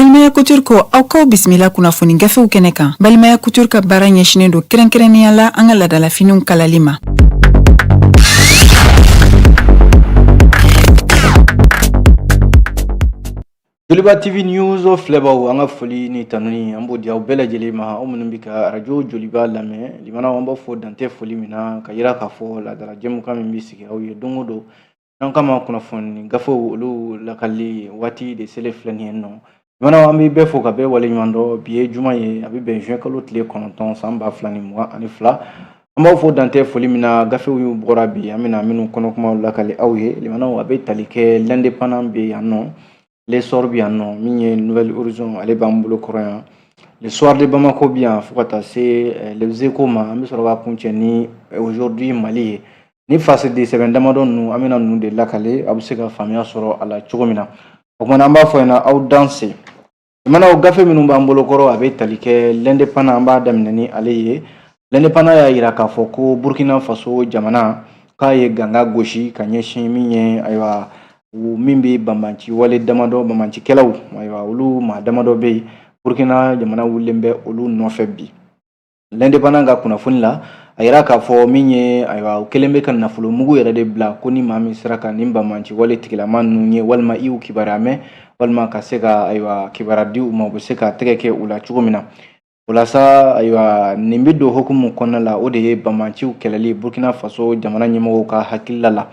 Balimaya Couture ko aw k'aw bisimila kunnafoni gafew kɛnɛ kan. Balimaya Couture ka baara ɲɛsinnen don kɛrɛnkɛrɛnnenya la an ka ladalafiniw kalali ma. Joliba TV News filɛbaaw an ka foli ni tanuni an b'o di aw bɛɛ lajɛlen ma aw minnu bɛ ka arajo Joliba lamɛn limanaw an b'aw fo dan tɛ foli min na ka yira k'a fɔ laadala jɛmukan min bɛ sigi aw ye don o don An k'a ma kunnafoni gafew olu lakali waati de selen filɛ nin ye nɔ limanaw an bɛ bɛɛ fo ka bɛɛ waleɲumandɔn bi ye juma ye a bɛ bɛn juin kalo tile kɔnɔntɔn san ba fila ni mugan ani fila an b'aw fo dan tɛ foli min na gafew y'u bɔra bi an bɛna minnu kɔnɔ kuma lakali aw ye limanaw a bɛ tali kɛ L'Indépendant bɛ yan nɔ L'Essor bi yan nɔ min ye Nouvel Horizon ale b'an bolo kɔrɔ yan le soir de bamako bi yan fo ka taa se eh, Les Échos ma an bɛ sɔrɔ k'a kuncɛ ni eh, aujourd'hui mali ye ni fasidi sɛbɛn damadɔ ninnu an bɛna ninnu de lakali aw bɛ se ka faamuya sɔrɔ a la cogo min na o kumana an b'a fɔ ɲɛna aw danse limanaw gafe minnu b'an bolo kɔrɔ a bɛ tali kɛ L'Indépendant an b'a daminɛ ni ale ye L'Indépendant y'a yira k'a fɔ ko burkina faso jamana k'a ye ganga gosi k'a ɲɛsin min ye ayiwa min bɛ banbanci wale damadɔ banbancikɛlaw ayiwa olu maa damadɔ bɛ yen burkina jamana wulilen bɛ olu nɔfɛ bi L'Indépendant ka kunnafoni la a yira k'a fɔ min ye ayiwa u kɛlen bɛ ka nafolo mugu yɛrɛ de bila ko ni maa min sera ka nin banbanci wale tigilama ninnu ye walima i y'u kibaruya mɛn walima ka se ka ayiwa kibaruya di u ma u bɛ se ka tɛgɛ kɛ u la cogo min na O la sa ayiwa nin bɛ don hukumu kɔnɔna la o de ye banbanciw kɛlɛli burukina faso jamana ɲɛmɔgɔw ka hakilila la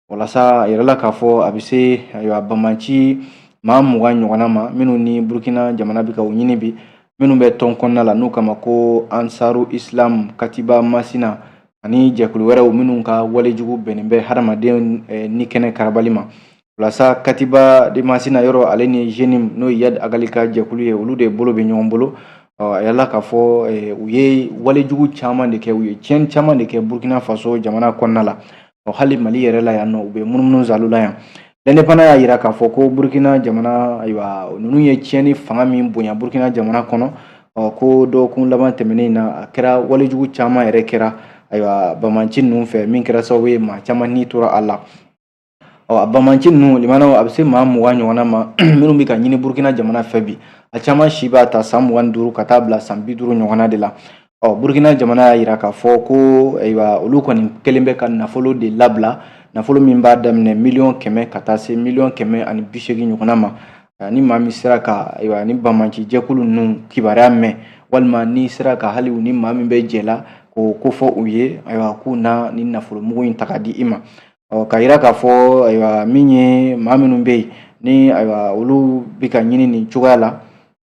o la sa a yirala k'a fɔ a bɛ se ayiwa banbanci maa mugan ɲɔgɔnna ma minnu ni burukina jamana bɛ ka u ɲini bi minnu bɛ tɔn kɔnɔna la n'u k'a ma ko ansaru islam katiba masina ani jɛkulu wɛrɛw minnu ka walejugu bɛnnen bɛ hadamaden ni kɛnɛ karabali ma o la sa katiba de masina yɔrɔ ale ni JNIM n'o ye Iyad Ag Ghali ka jɛkulu ye olu de bolo bɛ ɲɔgɔn bolo a yirala k'a fɔ eh, u ye walejugu caman de kɛ u ye tiɲɛni caman de kɛ burkina faso jamana kɔnɔna la ɔ hali mali yɛrɛ la yan nɔ u bɛ munumunu zalo la yan L'Indépendant y'a yira k'a fɔ ko burkina jamana ayiwa ninnu ye tiɲɛni fanga min bonya burkina jamana kɔnɔ ɔ ko dɔgɔkun laban tɛmɛnen na a kɛra walejugu caman yɛrɛ kɛra ayiwa banbanci ninnu fɛ min kɛra sababu ye maa caman ni tora a la Ɔ a banbanci ninnu limanaw a bɛ se maa mugan ɲɔgɔnna ma minnu bɛ ka ɲini burukina jamana fɛ bi a caman si b'a ta san mugan ni duuru ka taa bila san bi duuru ɲɔgɔnna de la ɔ burukina jamana y'a yira k'a fɔ ko ayiwa olu kɔni kɛlen bɛ ka nafolo de labila nafolo min b'a daminɛ miliyɔn kɛmɛ ka taa se miliyɔn kɛmɛ ani bi seegin ɲɔgɔnna ma ni maa min sera ka ayiwa nin banbanci jɛkulu ninnu kibaruya mɛn walima n'i sera ka hali u ni maa min bɛ jɛ la k'o kofɔ u ye ayiwa k'u na nin nafolo mugu in ta ka di i ma ɔ k'a yira k'a fɔ ayiwa min ye maa minnu bɛ yen ni ayiwa olu bɛ ka ɲini nin cogoya la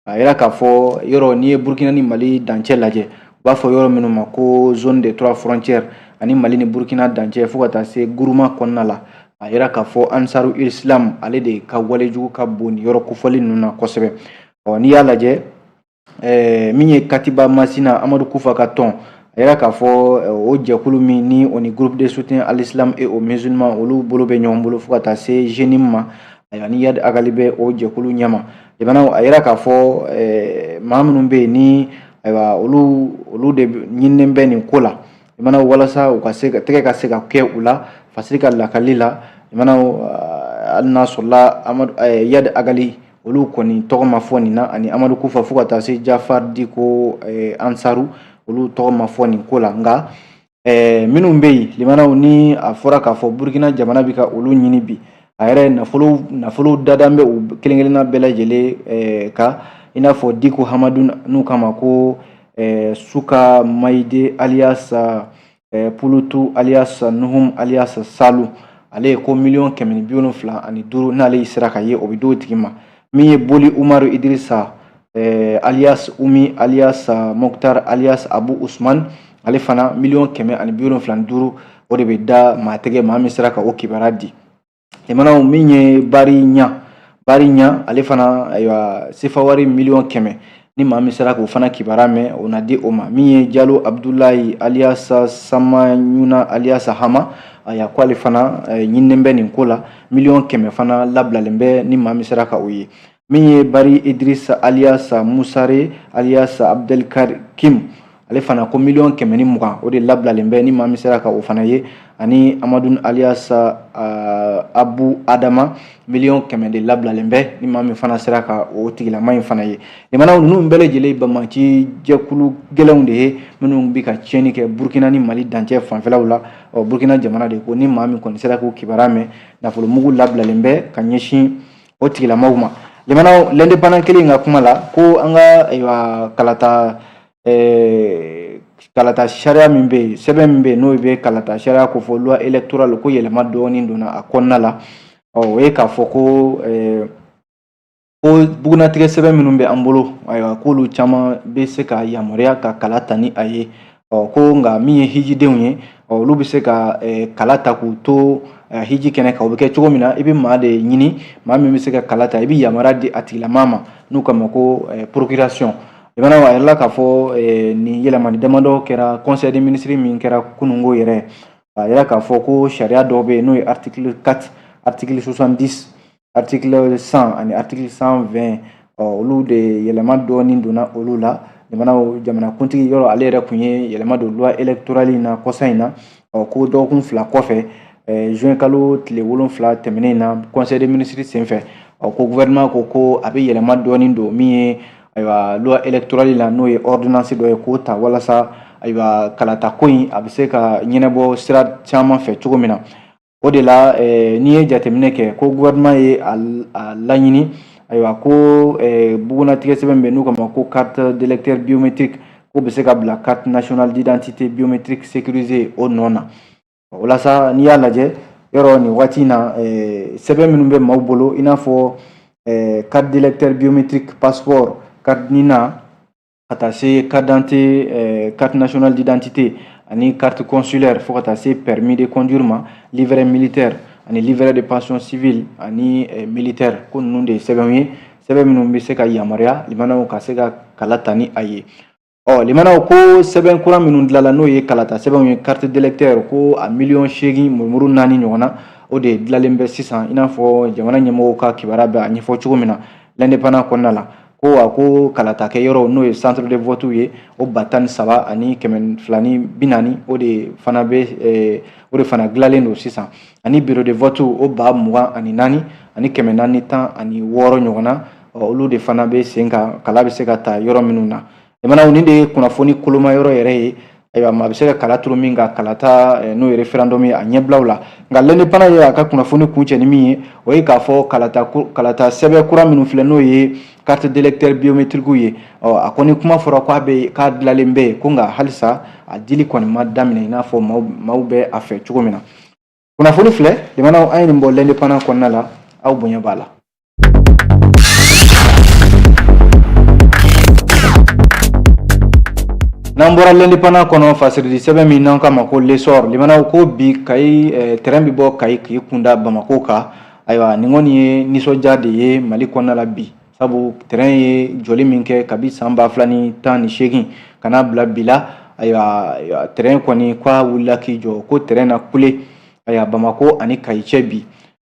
a yira k'a fɔ yɔrɔ n'i ye burukina ni mali dancɛ lajɛ u b'a fɔ yɔrɔ minnu ma ko zone des trois frontières ani mali ni burukina dancɛ fo ka taa se guruma kɔnɔna la a yira k'a fɔ ansaru islam ale de ka walejugu ka bon nin yɔrɔ kofɔlen ninnu na kosɛbɛ ɔ n'i y'a lajɛ ɛɛ min ye katiba masina amadu kufa ka tɔn a yira k'a fɔ o jɛkulu min ni o ni groupe de soutien à l'islam et aux musulmans olu bolo bɛ ɲɔgɔn bolo fo ka taa se jenim ma ayiwa ni iyadi agali bɛ o jɛkulu ɲɛma jamana a yira k'a fɔ ɛɛ maa minnu bɛ yen ni ayiwa olu olu de ɲinilen bɛ nin ko la jamana walasa u ka se ka tɛgɛ ka se ka kɛ u la fasiri ka lakali la jamana hali n'a sɔrɔla amadu iyadi agali olu kɔni tɔgɔ ma fɔ nin na ani amadu kufa fo ka taa se jafari diko eh, ansaru olu tɔgɔ ma fɔ nin ko la nka eh, minnu bɛ yen limanaw ni a fɔra k'a fɔ burukina jamana bɛ ka olu ɲini bi a yɛrɛ nafolo nafolo dadan bɛ u kelen kelenna bɛɛ lajɛlen eh, ka i n'a fɔ diko hamadu n'u k'a ma ko eh, suka mayide aliyasa eh, pulutu aliyasa nuhum aliyasa salu ale ye ko miliyɔn kɛmɛ ni bi wolonfila ani duuru n'ale y'i sera k'a ye o bɛ d'o tigi ma min ye boli umaru idirisa eh, aliyas umi aliyasa moktar aliyas abu usman ale fana miliyɔn kɛmɛ ani bi wolonfila ni duuru o de bɛ da maa tɛgɛ maa min sera ka o kibaruya di jamanaw min ye bari ɲa bari ɲa ale fana ayiwa sefawari miliyɔn kɛmɛ ni maa min sera k'o fana kibaruya mɛn o na di o ma min ye jalo abudulayi aliyasa samanyuna aliyasa hama aya ko ale fana eh, ɲininen bɛ nin ko la miliyɔn kɛmɛ fana labilalen bɛ ni maa min sera ka o ye min ye bari idrisa aliyasa musare aliyasa abdelkarim ale fana ko miliyɔn kɛmɛ ni mugan o de labilalen bɛ ni maa min sera ka o fana ye ani amadu aliyasa uh, abu adama miliyɔn kɛmɛ de labilalen bɛ ni maa min fana sera ka o tigilama in fana ye limanaw ninnu bɛɛ lajɛlen banbaanci jɛkulu gɛlɛnw de ye minnu bɛ ka tiɲɛni kɛ burukina ni mali dancɛ fanfɛlaw la ɔ burukina jamana de ko ni maa min kɔni sera k'o kibaruya mɛn nafolomugu labilalen bɛ ka ɲɛsin o tigilamaw ma limanaw l'indépendant kelen ka kuma la ko an ka ayiwa kalata eh, kalata sariya min bɛ yen sɛbɛn min bɛ yen n'o bɛ kalata sariya kofɔ loi électorale ko yɛlɛma dɔɔnin donna a kɔnɔna la ɔ o ye k'a fɔ ko eh, ko bugunnatigɛ sɛbɛn minnu bɛ an bolo ayiwa k'olu caman bɛ se ka yamaruya ka kala ta ni a ye ɔ ko nka min ye hijidenw ye ɔ olu bɛ se ka kala ta k'u to hiji kɛnɛ kan o bɛ kɛ cogo min na i bɛ maa de ɲini maa min bɛ se ka kala ta i bɛ yamaruya di a tigilamaa ma n'u k'a ma ko procuration limanaw a yirala k'a fɔ nin yɛlɛmani damadɔ kɛra conseil des ministres min kɛra kununko yɛrɛ a yira k'a fɔ ko sariya dɔw bɛ yen n'o ye article 4 article 70 article 100 ani article 120 ɔ olu de yɛlɛma dɔɔni donna olu la limanaw jamanakuntigi yɔrɔ ale yɛrɛ kun ye yɛlɛma don loi électorale in na kɔsa in na ɔ ko dɔgɔkun fila kɔfɛ juin kalo tile wolonfila tɛmɛnen in na conseil des ministres senfɛ ɔ ko gouvernement ko ko a bɛ yɛlɛma dɔɔni don min ye ayiwa loi électorale la n'o ye ordonnance dɔ ye k'o ta walasa ayiwa kalata ko in a bɛ se ka ɲɛnabɔ sira caman fɛ cogo min na o de la eh, n'i ye jateminɛ kɛ ko gouvernement ye a, a laɲini ayiwa ko eh, bugunnatigɛ sɛbɛn min bɛ n'u k'a ma ko carte d'électeur biométrique k'o bɛ se ka bila carte nationale d'identité biométrique sécurisée o nɔ na walasa n'i y'a lajɛ yɔrɔ nin waati in na eh, sɛbɛn minnu bɛ maaw bolo i n'a fɔ eh, carte d'électeur biométrique passeport carte nina ka taa se carte d'identité carte nationale d'identité ani carte consulaire fo ka taa se permis de conduire ma livret militaire ani livret de pension civile ani militaire ko ninnu de ye sɛbɛnw ye sɛbɛn minnu bɛ se ka yamaruya limanaw ka se ka kala ta ni a ye ɔ limanaw ko sɛbɛn kura minnu dilanla n'o ye kalata sɛbɛnw ye carte d'électeur ko a miliyɔn seegin murumuru naani ɲɔgɔn na o de dilanlen bɛ sisan i n'a fɔ jamana ɲɛmɔgɔw ka kibaruya bɛ a ɲɛfɔ cogo min na l'indépendant kɔnɔna la ko wa ko kalatakɛ yɔrɔ n'o ye centre de vote ye o ba tan ni saba ani kɛmɛ fila ni bi naani o de fana bɛ eh, o de fana dilanlen don sisan ani bureau de vote o ba mugan ani naani ani kɛmɛ naani tan ani wɔɔrɔ ɲɔgɔn na olu de fana bɛ sen kan kala bɛ se ka ta yɔrɔ minnu na limanaw nin de ye kunnafoni koloma yɔrɔ yɛrɛ ye ayiwa maa bɛ se ka kala turu min kan kalata eh, n'o ye référendum ye a ɲɛbilaw la nka l'indépendant ye a ka kunnafoni kuncɛ ni min ye o ye k'a fɔ kalata kalata sɛbɛn kura minnu filɛ n'o ye carte d'électeur biométrique ye ɔ a kɔni kuma fɔra k'a bɛ k'a dilanlen bɛ yen ko nka halisa a dili kɔni ma daminɛ i n'a fɔ maaw maaw bɛ a fɛ cogo min na kunnafoni filɛ limanaw an ye nin bɔ l'indépendant kɔnɔna la aw bonya b'a la n'an bɔra l'indépendant kɔnɔ fasiridi sɛbɛn min n'an k'a ma ko l'essor limanaw ko bi kayi eh, tɛrɛn bi bɔ kayi k'i kunda bamako kan ayiwa nin kɔni ye nisɔndiya de ye mali kɔnɔna la bi sabu tɛrɛn ye jɔli min kɛ kabi san ba fila ni tan ni seegin ka n'a bila bi la ayiwa tɛrɛn kɔni k'a wulila k'i jɔ ko tɛrɛn na kule ayiwa bamako ani kayi cɛ bi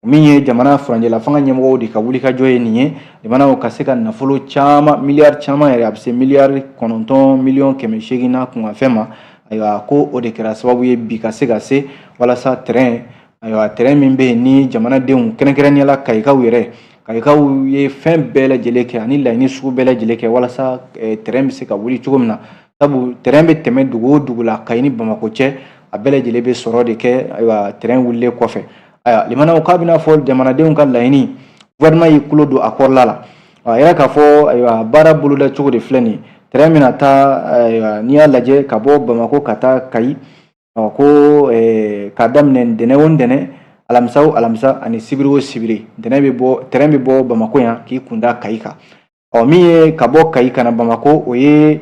min ye jamana furancɛla fanga ɲɛmɔgɔw de ka wulikajɔ ye nin ye limanaw ka se ka nafolo caman miliyari caman yɛrɛ a bɛ se miliyari kɔnɔntɔn miliyɔn kɛmɛ seegin n'a kunkanfɛn ma ayiwa ko o de kɛra sababu ye bi ka se ka se walasa tɛrɛn ayiwa tɛrɛn min bɛ yen ni jamanadenw kɛrɛnkɛrɛnnenya la kayikaw yɛrɛ kayikaw ye fɛn bɛɛ lajɛlen kɛ ani laɲini sugu bɛɛ lajɛlen kɛ walasa tɛrɛn bɛ se ka wuli cogo min na sabu tɛrɛn bɛ tɛmɛ dugu o dugu la kayi ni bamakɔ cɛ a bɛɛ lajɛlen bɛ sɔrɔ de kɛ ayiwa tɛrɛn wulilen kɔfɛ ayiwa limanaw k'a bɛna fɔ jamanadenw ka laɲini gouvernement y'i tulo don a kɔrɔla la a yirala k'a fɔ ayiwa baara boloda cogo de filɛ nin ye tɛrɛn bɛna taa ayiwa n'i y'a lajɛ ka bɔ bamakɔ ka taa kayi ko k'a daminɛ ntɛnɛn o ntɛnɛn alamisa o alamisa ani sibiri o sibiri ntɛnɛn bɛ bɔ tɛrɛn bɛ bɔ bamakɔ yan k'i kun da kayi kan ɔ min ye ka bɔ kayi ka na bamakɔ o ye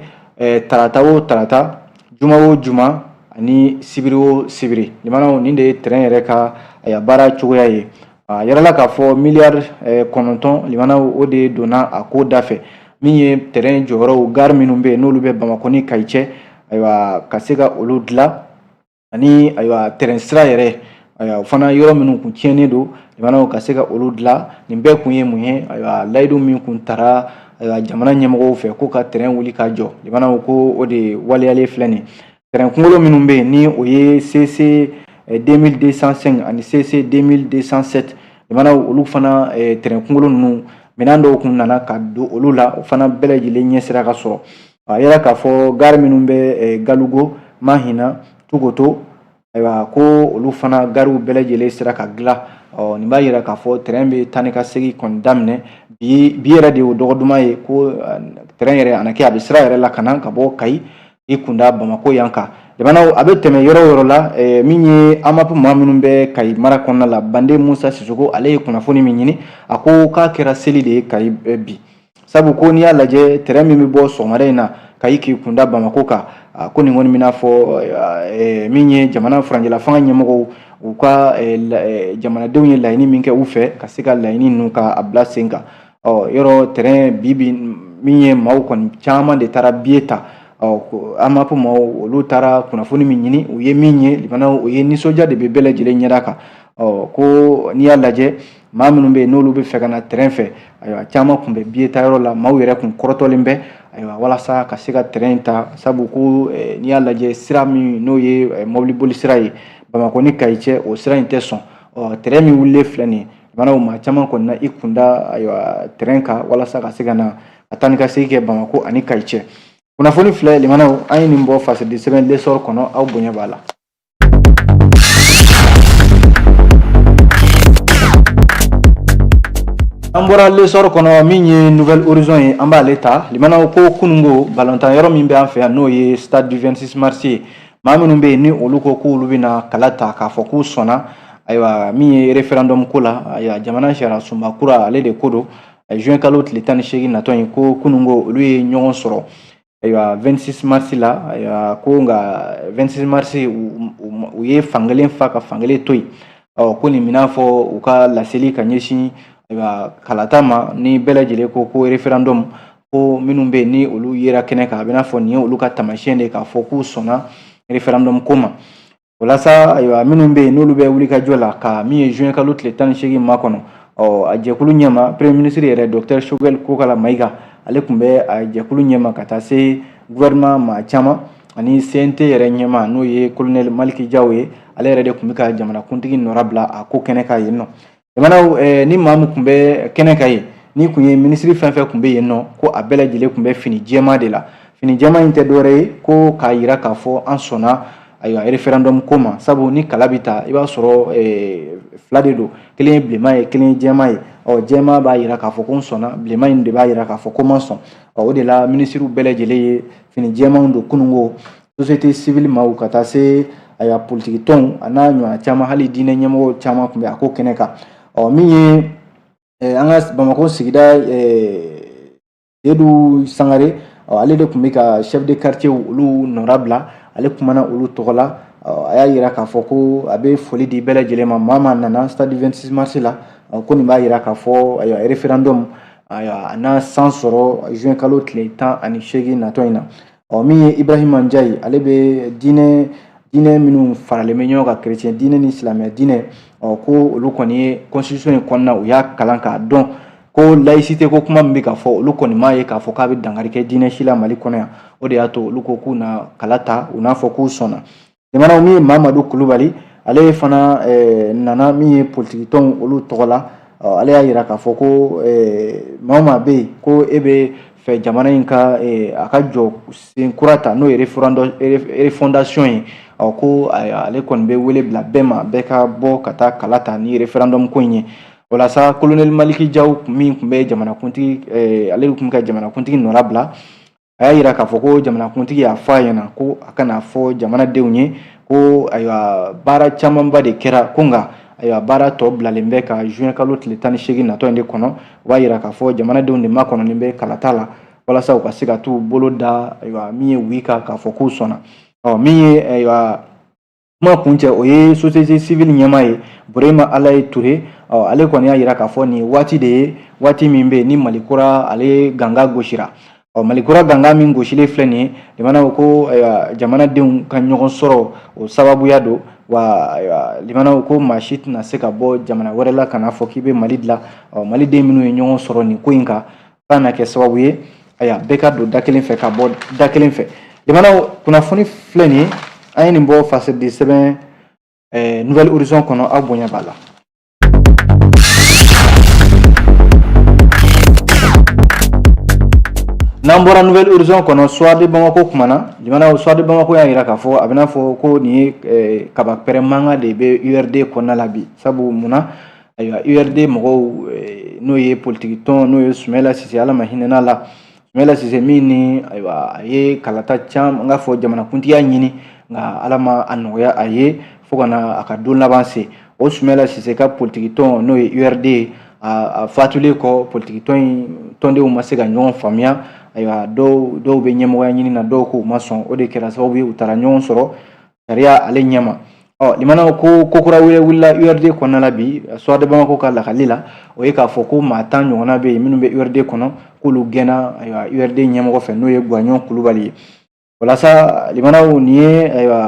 tarata o tarata juma o juma ani sibiri o sibiri limanaw nin de ye tɛrɛn yɛrɛ ka a baara cogoya ye a yirala k'a fɔ miliyari eh, kɔnɔntɔn limanaw o de donna a ko da fɛ min ye tɛrɛn jɔyɔrɔw gari minnu bɛ yen n'olu bɛ bamakɔ ni kayi cɛ ayiwa ka se ka olu dilan ani ayiwa tɛrɛn sira yɛrɛ ayiwa o fana yɔrɔ minnu kun tiɲɛnen don limanaw ka se ka olu dilan nin bɛɛ kun ye mun ye ayiwa layidu min kun tara ayiwa jamana ɲɛmɔgɔw fɛ ko ka tɛrɛn wuli ka jɔ limanaw ko o de waleyalen filɛ nin ye tɛrɛn kunkolo minnu bɛ yen ni o ye CC 2205 eh, ani CC 2207 limanaw olu fana eh, tɛrɛn kunkolo ninnu minɛn dɔw kun nana ka don olu la o fana bɛɛ lajɛlen ɲɛ sera ka sɔrɔ a yirala k'a fɔ gari minnu bɛ eh, Galugo Mahina Tukoto ayiwa ko olu fana gariw bɛɛ lajɛlen sera ka dilan ɔ nin b'a yira k'a fɔ tɛrɛn bɛ taa ni ka segin kɔni daminɛ bi bi yɛrɛ de y'o dɔgɔ duman ye ko tɛrɛn yɛrɛ a na kɛ a bɛ sira yɛrɛ la ka na ka bɔ Kayi i kunda bamakɔ yan kan jamanaw a bɛ tɛmɛ yɔrɔ o yɔrɔ la eh, min ye AMAP maa minnu bɛ kayi mara kɔnɔna la bande musa sisoko ale ye kunnafoni min ɲini a ko k'a kɛra seli de ye kayi eh, bi sabu ko n'i y'a lajɛ tɛrɛn min bɛ bɔ sɔgɔmada in na kayi k'i kunda bamakɔ kan ah, ko nin kɔni bɛna fɔ eh, min ye jamana furancɛla fanga ɲɛmɔgɔw u ka jamanadenw ye laɲini min kɛ u fɛ ka se ka laɲini ninnu ka a bila sen kan ɔ yɔrɔ tɛrɛn bi bi min ye maaw kɔni caman de taara biye ta ɔ AMAP maaw olu taara kunnafoni min ɲini u ye min ye limanaw o ye nisɔndiya de bɛ bɛɛ lajɛlen ɲɛda kan ɔ ko n'i y'a lajɛ maa minnu bɛ yen n'olu b'a fɛ ka na tɛrɛn fɛ ayiwa caman tun bɛ biye ta yɔrɔ la maaw yɛrɛ tun kɔrɔtɔlen bɛ ayiwa walasa ka se ka tɛrɛn ta sabu ko eh, n'i y'a lajɛ sira min n'o ye eh, mɔbiliboli sira ye bamakɔ ni kayi cɛ o sira in tɛ sɔn ɔ tɛrɛn min wulilen filɛ nin ye maa maa caman kɔni na i kunda ayiwa tren kan walasa ka se ka na a taa ni ka segin kɛ bamakɔ ani kayi cɛ kunnafoni filɛ limanaw an ye nin bɔ fasidi sɛbɛn lesɔrɔ kɔnɔ aw bonya b'a la an bɔra lesɔrɔ kɔnɔ min ye nouvelle horizon ye an b'ale ta limanaw ko kunungo balontan yɔrɔ min bɛ an fɛ yan n'o ye stade du 26 mars ye maa minnu bɛ yen ni olu ko k'olu bɛna kala ta k'a fɔ k'u sɔnna ayiwa min ye referendum ko la ayiwa jamana sariyasunba kura ale de ko don juin kalo tile tan ni seegin natɔ in ko kunungo olu ye ɲɔgɔn sɔrɔ ayiwa 26 mars la ayiwa ko nka 26 mars u ye fankelen fa ka fankelen to yen ɔ ko nin b'i n'a fɔ u ka laseli ka ɲɛsin ayiwa kalata ma ni bɛɛ lajɛlen ko ko referendum ko minnu bɛ yen ni olu yera kɛnɛ kan a b'i n'a fɔ nin ye olu ka taamasiyɛn de k'a fɔ k'u sɔnna referendum ko ma o la sa ayiwa minnu bɛ yen n'olu bɛ wulikajɔ la ka min ye juin kalo tile tan ni seegin makɔnɔ ɔ a jɛkulu ɲɛma premier ministre yɛrɛ docteur Choguel Kokala Mayiga ale tun bɛ a jɛkulu ɲɛma ka taa se gouvernement maa caman ani CNT yɛrɛ ɲɛmaa n'o ye colonel Maliki Jaw ye ale yɛrɛ de tun bɛ ka jamanakuntigi nɔra bila a ko kɛnɛ kan yen nɔ jamanaw eh, ni maa min tun bɛ kɛnɛ kan yen ni tun ye minisiri fɛn fɛn tun bɛ yen nɔ ko a bɛɛ lajɛlen tun bɛ fini jɛman de la fini jɛman in tɛ dɔwɛrɛ ye ko k'a yira k'a fɔ an sɔnna ayiwa referendum ko ma sabu ni kala bɛ ta i b'a sɔrɔ eh, fila de don kelen ye bilenman ye kelen ye jɛman ye ɔ jɛman b'a yira k'a fɔ ko n sɔnna bilenman in de b'a yira k'a fɔ ko n ma sɔn ɔ o de la minisiriw bɛɛ lajɛlen ye fini jɛmanw don kunungo société civile maaw ka taa se ayiwa politiki tɔnw a n'a ɲɔgɔnna caman hali diinɛ ɲɛmɔgɔ caman tun bɛ a ko kɛnɛ kan ɔ min ye eh, an ka bamakɔ sigida eh, sedu sangare ɔ ale de tun bɛ ka chef de quartier olu nɔra bila ale kumana olu tɔgɔ la a y'a yira k'a fɔ ko a bɛ foli di bɛɛ lajɛlen ma maa maa nana stade 26 mars la ko nin b'a yira k'a fɔ ayiwa referendum ayiwa a na san sɔrɔ juin kalo tile tan ani seegin natɔ in na ɔ min ye ibrahima njayi ale bɛ diinɛ diinɛ minnu faralen bɛ ɲɔgɔn kan kerecɛn diinɛ ni silamɛya diinɛ ɔ ko olu kɔni ye constitution in kɔnɔna u y'a kalan k'a dɔn ko laïcité ko kuma min bɛ ka fɔ olu kɔni m'a ye k'a fɔ k'a bɛ dankari kɛ diinɛ si la mali kɔnɔ yan o de y'a to olu ko k'u na kala ta u n'a fɔ k'u sɔnna jamana min ye mamadu kulubali ale fana eh, nana min ye politikitɔnw olu tɔgɔ la eh, ale y'a yira k'a fɔ ko eh, maa o maa bɛ yen ko e b'a fɛ jamana in ka a ka jɔsen kura ta n'o ye refondation ye ko ale kɔni bɛ wele bila bɛɛ ma bɛɛ ka bɔ ka taa kala ta ni referendum ko in ye o la sa kolonɛli maliki jaw min tun bɛ jamanakuntigi ale tun bɛ ka jamanakuntigi nɔra bila a y'a yira k'a fɔ ko jamanakuntigi y'a fɔ a ɲɛna ko a ka n'a fɔ jamanadenw ye ko ayiwa baara camanba de kɛra ko nka ayiwa baara tɔ bilalen bɛ ka juin kalo tile tan ni seegin natɔ in de kɔnɔ o b'a yira k'a fɔ jamanadenw de makɔnɔnen bɛ kalata la walasa u ka se ka t'u bolo da ayiwa min ye oui kan k'a fɔ k'u sɔnna ɔ min ye ayiwa kuma kuncɛ o ye société civile ɲɛmaa ye burema alaye ture ale kɔni y'a yira k'a fɔ nin waati de ye waati min bɛ ni mali kura ale ganga gosira ɔ mali kura ganga min gosilen filɛ nin ye limanaw ko jamanadenw ka ɲɔgɔn sɔrɔ o sababuya don wa limanaw ko maa si tɛna se ka bɔ jamana wɛrɛ la ka n'a fɔ k'i bɛ mali dilan ɔ maliden minnu ye ɲɔgɔn sɔrɔ nin ko in kan fo ka na kɛ sababu ye ayiwa bɛɛ ka don da kelen fɛ ka bɔ da kelen fɛ limanaw kunnafoni filɛ nin ye an ye nin bɔ fasiridi sɛbɛn eh, nouvelle horizon kɔnɔ aw bonya b'a la n'an bɔra nouvelle horizon kɔnɔ soir de bamako kumana limanaw soir de bamako y'a yira k'a fɔ a bɛna fɔ ko nin ye eh, kaba pɛrɛn mankan de bɛ urd kɔnɔna la bi sabu mun na ayiwa urd mɔgɔw n'o ye politigi tɔn n'o ye sumayila sise ala ma hinɛn'a la sumayila sise min ni ayiwa a ye kalata caman n k'a fɔ jamanakuntigiya ɲini nka ala ma a nɔgɔya a ye fo ka na a ka don laban se o sumayila sise ka politigi tɔn n'o ye urd ye a fatulen kɔ politigi tɔn in tɔndenw ma se ka ɲɔgɔn faamuya ayiwa dɔw bɛ ɲɛmɔgɔya ɲini na dɔw k'u ma sɔn o de kɛra sababu u taara ɲɔgɔn sɔrɔ sariya ale ɲɛ ma ɔ limanaw ko ko kura wɛrɛ wulila urd kɔnɔna la bi soir de bamako ka lakali la o ye k'a fɔ ko maa tan ɲɔgɔnna bɛ yen minnu bɛ urd kɔnɔ k'olu gɛnna ayiwa urd ɲɛmɔgɔ fɛ n'o ye guwaɲɔn kulubali ye walasa limanaw nin ye ayiwa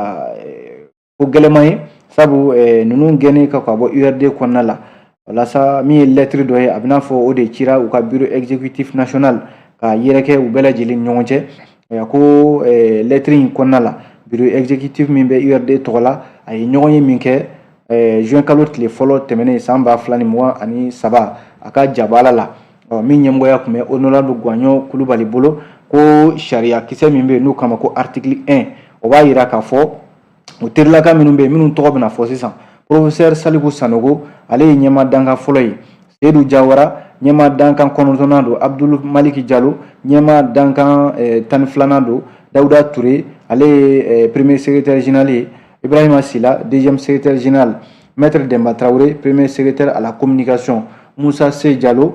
ko gɛlɛman ye sabu ninnu gɛnnen ka ka bɔ urd kɔnɔna la walasa min ye lɛtiri dɔ ye a bɛna fɔ o de cira u ka bureau exécutif national ka yɛrɛkɛ u bɛɛ lajɛlen ɲɔgɔn cɛ a ko lɛtiri in kɔnɔna la bureau exécutif min bɛ urd tɔgɔ la a ye ɲɔgɔnye min kɛ juin kalo tile fɔlɔ tɛmɛnen san ba fila ni mugan ani saba a ka jabaala la min ɲɛmɔgɔya tun bɛ honorable guwaɲɔ kulubali bolo ko sariya kisɛ min bɛ yen n'o kama ko article 1 o b'a yira k'a fɔ o terilaka minnu bɛ yen minnu tɔgɔ bɛna fɔ sisan porofesɛri saliku sanogo ale ye ɲɛmaa dankan fɔlɔ ye seyidu jawara ɲɛmaa dankan kɔnɔntɔnnan don abudulu maliki jalo ɲɛmaa dankan eh, tan ni filanan don dawuda ture ale ye eh, premier secrétaire général ye ibrahima sila deuxième secrétaire général maître demba traoré premier secrétaire à la communication moussa sey jalo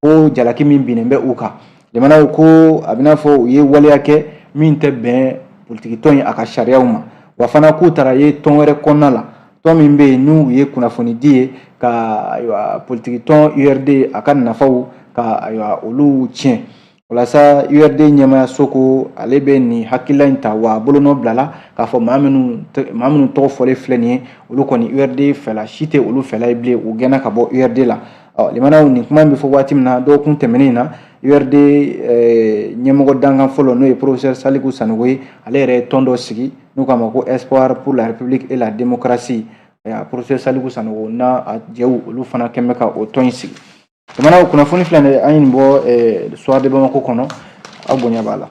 ko jalaki min binnen bɛ u kan limanaw ko a b'i n'a fɔ u ye waleya kɛ min tɛ bɛn politikitɔn in a ka sariyaw ma wa fana k'u taara ye tɔn wɛrɛ kɔnɔna la tɔn min bɛ yen n'u ye kunnafonidi ye ka ayiwa politikitɔn urd a ka nafaw ka ayiwa olu tiɲɛ o la sa urd ɲɛmaayaso ko ale bɛ nin hakilila in ta wa a bolonɔ bilala k'a fɔ maa minnu tɔgɔ fɔlen filɛ nin ye olu kɔni urd fɛla si tɛ olu fɛla ye bilen u gɛnna ka bɔ urd la ɔ limanaw nin kuma in bɛ fɔ waati min na dɔgɔkun tɛmɛnen in na urd eh, ɲɛmɔgɔ dankan fɔlɔ n'o ye professeur saliku sanogo ye ale yɛrɛ ye tɔn dɔ sigi n'u k'a ma ko espoir pour la république et la démocratie eh, professeur saliku sanogo n'a jɛw olu fana kɛn bɛ ka o tɔn in sigi limanaw kunnafoni filɛ nin ye an ye nin bɔ eh, soir de bamako kɔnɔ aw bonya b'a la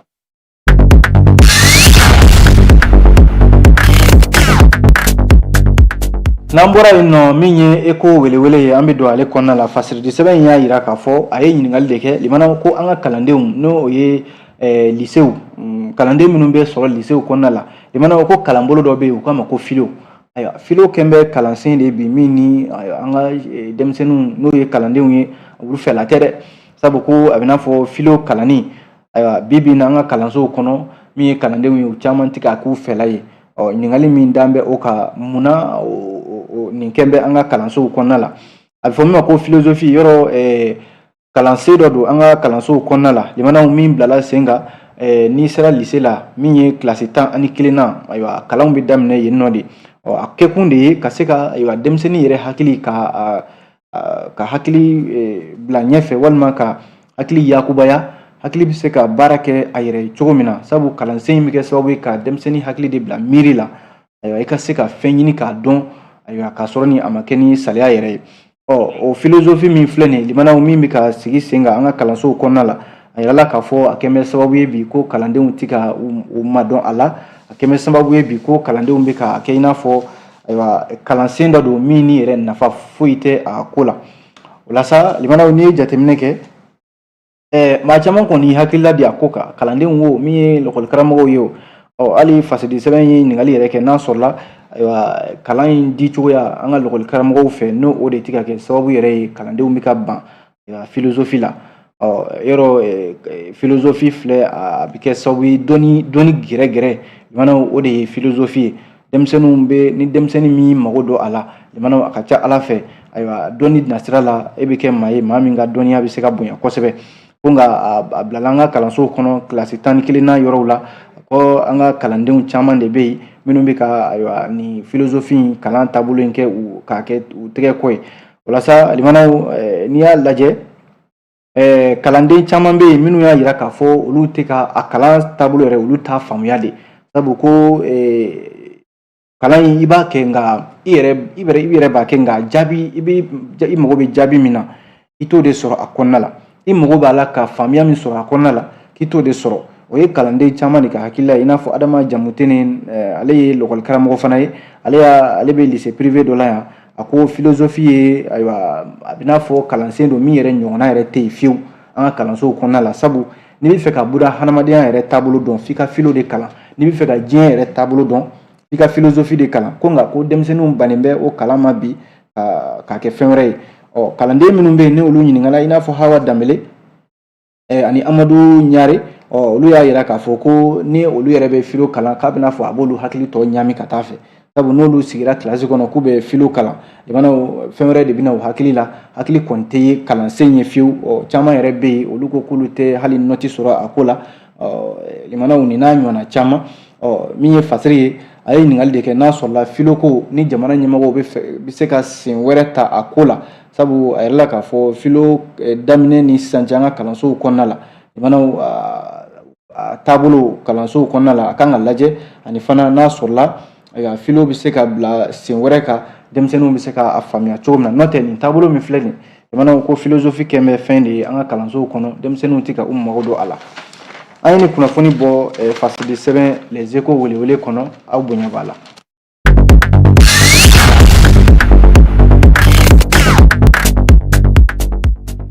N'an bɔra yen nɔ min ye eko welewele ye an bɛ don ale kɔnɔna la fasidi sɛbɛn in y'a jira k'a fɔ a ye ɲininkakali de kɛ limanaw ko an ka kalandenw n'o ye lisew kalanden minnu bɛ sɔrɔ lisew kɔnɔna la limanaw ko kalanbolo dɔ bɛ yen u k'a ma ko filo ayiwa filo kɛn bɛ kalansen de bi min ni an ka denmisɛnnin n'o ye kalandenw ye olu fɛla tɛ dɛ sabu ko a b'i n'a fɔ filo kalan ayiwa bi bi na an ka kalansow kɔnɔ min ye kalandenw ye u caman tɛ k'a k'u fɛla ye ɔ ɲininkali min dan bɛ o kan munna nin kɛn bɛ an ka kalansow kɔnɔna la a bɛ fɔ min ma ko filozofi yɔrɔ ɛɛ kalansen dɔ don an ka kalansow kɔnɔna la limanaw min bilala sen kan eh, n'i sera lise la min ye kilasi tan ani kelenna ayiwa kalan bɛ daminɛ yen nɔ de ɔ a kɛkun de ye ka se ka ayiwa denmisɛnnin yɛrɛ hakili ka ka hakili e, bila ɲɛfɛ walima ka hakili yakubaya hakili bɛ se ka baara kɛ a yɛrɛ ye cogo min na sabu kalansen in bɛ kɛ sababu ye ka denmisɛnnin hakili de bila miiri la ayiwa i ka se ka fɛn ɲini k'a dɔn ayiwa k'a sɔrɔ ni a ma kɛ ni saliya yɛrɛ ye ɔ o filozofi min filɛ nin ye limanaw min bɛ ka sigi sen kan an ka kalansow kɔnɔna la a yirala k'a fɔ a kɛn bɛ sababu ye bi ko kalandenw tɛ ka u madɔn a la a kɛn bɛ sababu ye bi ko kalandenw bɛ ka kɛ i n'a fɔ ayiwa kalansen dɔ don min ni yɛrɛ nafa foyi tɛ a ko la o la sa limanaw n'i ye jateminɛ kɛ ɛɛ maa caman kɔni hakilila di a ko kan kalandenw wo min ye lakɔlikaramɔgɔw ye wo ɔ hali fasidi sɛbɛn ye ɲininkali yɛrɛ kɛ n'a sɔrɔla ayiwa kalan in di cogoya an ka lakɔlikaramɔgɔw fɛ n'o o de tɛ ka kɛ sababu yɛrɛ ye kalandenw bɛ ka ban filozofi la ɔ yɔrɔ filozofi filɛ a bɛ kɛ sababu ye dɔnni dɔnni gɛrɛ gɛrɛ limanaw o de ye filozofi ye denmisɛnninw bɛ ni denmisɛnnin min mago don a la limanaw a ka ca a la fɛ ayiwa dɔnni nasira la e bɛ kɛ maa ye maa min ka dɔnniya bɛ se ka bonya kosɛbɛ ko nka a bilala an ka kalansow kɔnɔ kilasi tan ni kelenna yɔrɔw la ko an ka kalandenw caman de bɛ yen minnu bɛ ka ayiwa nin filozofi in kalan taabolo in kɛ u k'a kɛ u tɛgɛ kɔ ye walasa limanaw n'i y'a lajɛ kalanden caman bɛ yen minnu y'a yira k'a fɔ olu tɛ ka a kalan taabolo yɛrɛ olu t'a faamuya de sabu ko kalan in i b'a kɛ nka i yɛrɛ b'a kɛ nka jaabi i mago bɛ jaabi min na i t'o de sɔrɔ a kɔnɔna la i mago b'a la ka faamuya min sɔrɔ a kɔnɔna la k'i t'o de sɔrɔ o ye kalanden caman de ka hakilila ye i n'a fɔ adama jamutene eh, ale ye lɔkɔli karamɔgɔ fana ye ale y'a ale bɛ lise prive dɔ la yan a ko filozofi ye ayiwa a bɛ n'a fɔ kalansen don min yɛrɛ ɲɔgɔnna yɛrɛ tɛ yen fiyewu an ka kalansow kɔnɔna la sabu n'i bɛ fɛ ka buna hadamadenya yɛrɛ taabolo dɔn f'i ka filo de kalan n'i bɛ fɛ ka diɲɛ yɛrɛ taabolo dɔn f'i ka filozofi de kalan ko nka ko denmisɛnninw bannen bɛ o kalan ma bi k'a kɛ fɛn wɛrɛ ye ɔ kalanden minnu bɛ yen ni olu ɲininkala i n'a fɔ hawa danbele ani amadu ɲare ɔ olu y'a yira k'a fɔ ko ni olu yɛrɛ bɛ filo kalan k'a bɛ n'a fɔ a b'olu hakili tɔ ɲami ka taa fɛ sabu n'olu sigira kilasi kɔnɔ k'u bɛ filo kalan limanaw fɛn wɛrɛ de bɛ na u hakili la hakili kɔni tɛ kalansen ye fiyewu ɔ caman yɛrɛ bɛ yen olu ko k'olu tɛ hali nɔti sɔrɔ a ko la limanaw nin n'a ɲɔgɔnna caman min ye fasiri ye a ye ɲininkali de kɛ n'a sɔrɔla filoko ni jamana ɲɛmɔgɔw bɛ se ka sen wɛrɛ ta a ko la sabu a yirala k'a fɔ filo daminɛ ni sisan cɛ an ka kalansow kɔnɔna la limanaw taabolo kalansow kɔnɔna la a kan ka lajɛ ani fana n'a sɔrɔla filo bɛ se ka bila sen wɛrɛ kan denmisɛnninw bɛ se k'a faamuya cogo min na n'o tɛ nin taabolo min filɛ nin limanaw ko filozofi kɛ bɛ fɛn de ye an ka kalansow kɔnɔ denmisɛnninw tɛ ka u mago don a la an ye nin kunnafoni bɔ fasidi sɛbɛn les échos welewele kɔnɔ aw bonya b'a la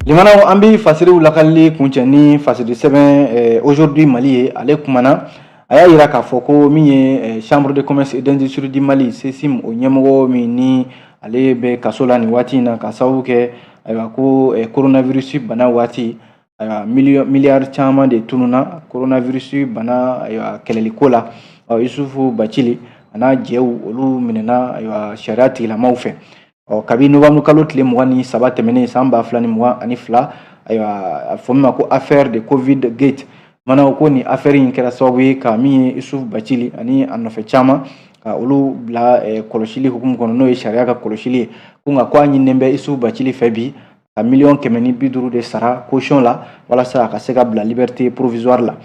limanaw an bɛ fasiriw lakalili kuncɛ ni fasidi sɛbɛn aujourd'hui mali ye ale kumana a y'a yira k'a fɔ ko min ye chambre de commerce et d'industrie du mali sesim o ɲɛmɔgɔ min ni ale bɛ kaso la nin waati in na ka sababu kɛ ayiwa ko coronavirus bana waati ayiwa miliyari caman de tununna coronavirus bana ayiwa kɛlɛliko la isufu bacili a n'a jɛw olu minɛna ayiwa sariya tigilamaw fɛ ɔ kabi novembre kalo tile mugan ni saba tɛmɛnen san ba fila ni mugan ani fila ayiwa a fɔ min ma ko affaire de covid gate mana o ko nin affaire in kɛra sababu ye ka min ye isufu bacili ani a nɔfɛ caman ka olu bila eh, kɔlɔsili hukumu kɔnɔ n'o ye sariya ka kɔlɔsili ye ko nka ko a ɲininnen bɛ isufu bacili fɛ bi ka miliyɔn kɛmɛ ni bi duuru de sara caution la walasa a ka se ka bila liberté provisoire la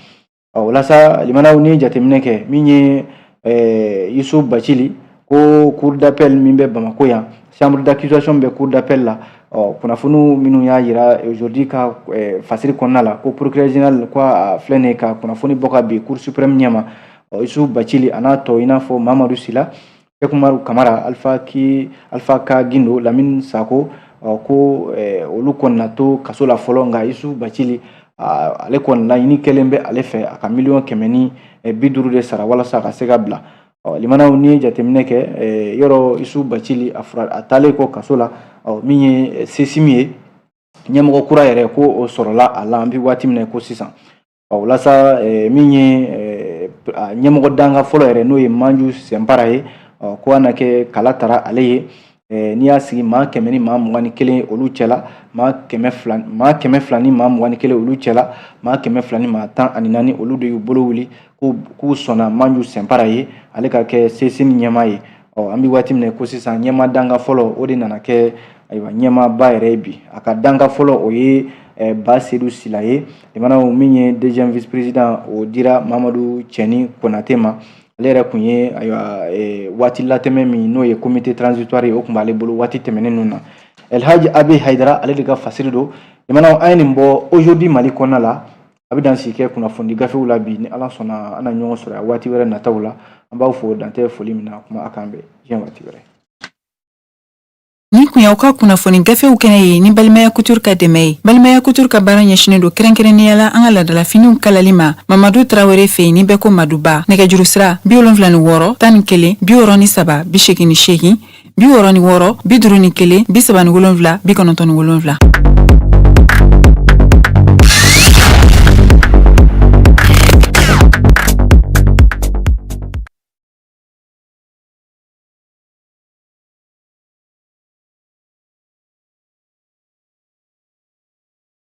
ɔ walasa limanaw n'i jateminɛ kɛ min ye eh, isufu bacili ko cour d'appel min bɛ bamako yan chambre d'accusation bɛ cour d'appel la ɔ kunnafoniw minnu y'a yira aujourd'hui ka eh, fasiri kɔnɔna la ko procureur général ko a filɛ nin ye ka kunnafoni bɔ ka bin cour suprême ɲɛma ɔ isufu bacili a n'a tɔ i n'a fɔ mamadu sila Seku Umaru Kamara Alifa Ki Alifa Ka Gindo Lamini Sako ɔ ko eh, olu kɔni na to kaso la fɔlɔ nka Yusufu Bacili ale kɔni laɲini kɛlen bɛ ale fɛ a ka miliyɔn kɛmɛ ni eh, bi duuru de sara walasa a ka se ka bila ɔ lamɛnnaw n'i ye jateminɛ kɛ eh, yɔrɔ Yusufu Bacili a fura a taalen kɔ kaso la ɔ min ye sesimi ye ɲɛmɔgɔ kura yɛrɛ ko o sɔrɔla a la an bɛ waati min na ko sisan Ɔ walasa min ye ɲɛmɔgɔ dankan fɔlɔ yɛrɛ n'o ye manju sɛnpara ye ɔ ko a na kɛ kala tara ale ye n'i y'a sigi maa kɛmɛ ni maa mugan ni kelen olu cɛla maa kɛmɛ fila ni maa mugan ni kelen olu cɛla maa kɛmɛ fila ni maa tan ani naani olu de y'u bolo wuli k'u sɔnna manju sɛnpara ye ale ka kɛ sesimi ɲɛmaa ye ɔ an bɛ waati min na ko sisan ɲɛmaa dankan fɔlɔ o de nana kɛ ayiwa ɲɛmaaba yɛrɛ ye bi a ka dankan fɔlɔ o ye eh, ba sedu sila ye jamanaw min ye deuxième vice président o dira mamadu cɛni konate ma ale yɛrɛ kun ye ayiwa eh, waati latɛmɛ min n'o ye comité transitoire ye o tun b'ale bolo waati tɛmɛnen ninnu na elhaji abe haidara ale de ka fasiri don jamanaw an ye nin bɔ aujourd'hui mali kɔnɔna la an bɛ dan sigi kɛ kunnafoni gafew la bi ni ala sɔnna an na ɲɔgɔn sɔrɔ a waati wɛrɛ nataw la an b'aw fo dan tɛ foli min na kuma a k'an bɛn diɲɛ waati wɛrɛ nin kun y'aw ka kunnafoni gafew kɛnɛ ye ni balimaya couture ka dɛmɛ ye balimaya couture ka baara ɲɛsinen don kɛrɛnkɛrɛnnenya la an ka laadalafiniw kalali ma mamadu tarawele fɛ yen ni bɛɛ ko maduba nɛgɛjuru sira bi wolonfila ni wɔɔrɔ tan ni kelen bi wɔɔrɔ ni saba bi seegin ni seegin bi wɔɔrɔ ni wɔɔrɔ bi duuru ni kelen bi saba ni wolonfila bi kɔnɔntɔn ni wolonfila